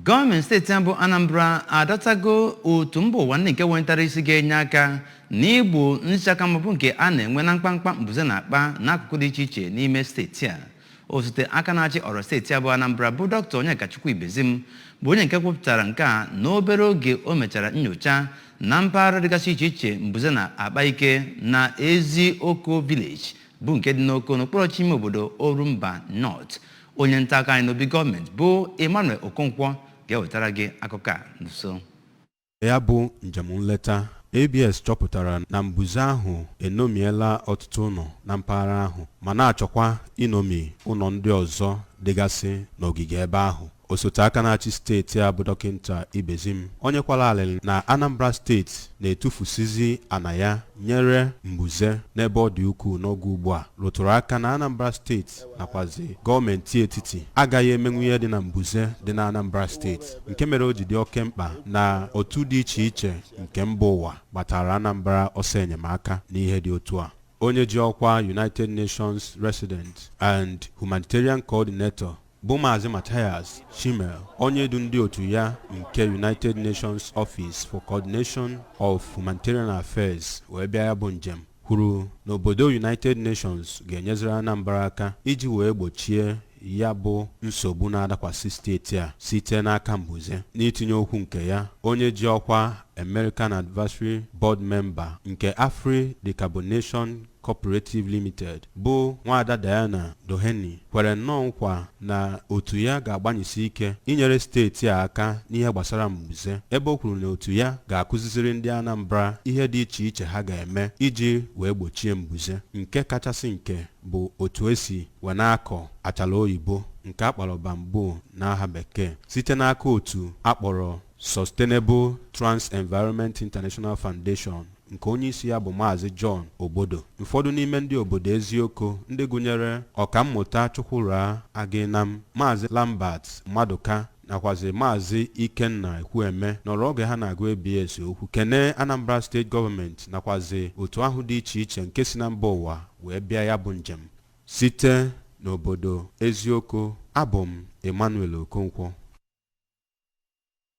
Gọọmenti steeti a bụ Anambra adọtago otu mba ụwa ndị nke wetara isi ga-enye aka n'igbo nchaka mgba bụ nke a na-enwe na mkpamkpa mbuze na-akpa n'akụkụ dị iche iche n'ime steeti a osote aka na-achị ọra steeti a bụ Anambra bụ dọkịta Onyekachukwu Ibezim bụ onye nke kwupụtara nke a n'obere oge o mechara nyocha na mpaghara dịgasị iche iche mbuze na-akpa ike na Ezioko village bụ nke dị n'Oko n'okpuru ọchịchị ime obodo Orumba North onye nta akụkọ anyị n'obi gọọmenti bụ Emmanuel Okonkwo ga-ewetara gị akụkọ a n'iso ya bụ njem nleta ABS chọpụtara na mbuze ahụ enomiela ọtụtụ ụlọ na mpaghara ahụ ma na-achọkwa inomi ụlọ ndị ọzọ dịgasị n'ogige ebe ahụ osote aka na-achị steeti a bụ dọkịta Ibezim onye kwara alịlị na Anambra steeti na-etufusizi ana ya nyere mbuze n'ebe ọ dị ukwuu n'oge ugbu a rụtụrụ aka na Anambra steeti steeti nakwazi gọọmenti etiti agaghị emenwu ihe dị na mbuze dị na Anambra steeti nke mere o ji dị oke mkpa na otu dị iche iche nke mba ụwa gbataara Anambra ọsọ enyemaka n'ihe dị otu a onye ji ọkwa United Nations Resident and Humanitarian Coordinator bụ Maazị Matthias Schmale onye du ndị otu ya nke United Nations Office for Coordination of Humanitarian Affairs wee bịa ya bụ njem kwuru na obodo United Nations ga-enyeziri Anambra aka iji wee gbochie ya bụ nsogbu na-adakwasị steeti a site n'aka mbuze n'itinye okwu nke ya onye ji ọkwa American Advisory Board Member nke Afri Decarbonation Cooperative Limited bụ Nwaada Diana Doheny kwere nnọọ nkwa na otu ya ga-agbanyesi ike inyere steeti a aka n'ihe gbasara mbuze, ebe o kwuru na otu ya ga-akụziziri ndị Anambra ihe dị iche iche ha ga-eme iji wee gbochie mbuze, nke kachasị nke bụ otu e si wee na-akọ achala oyibo nke a kpọrọ bamboo n'aha bekee site n'aka otu a kpọrọ Sustainable Trans Environment International Foundation nke onyeisi ya bụ Maazị John Ogbodo, ụfọdụ n'ime ndị obodo Ezioko ndị gụnyere Ọkammụta Chukwurah Aginam, Maazị Lambert Maduka nakwazi Maazị Ikenna Ekwueme nọrọ oge ha na-agwa ABS okwu kenee Anambra steeti gọọmenti nakwazi otu ahụ dị iche iche nke si na mba ụwa wee bịa ya bụ njem site n'obodo Ezioko. Abụ m Emmanuel Okonkwo.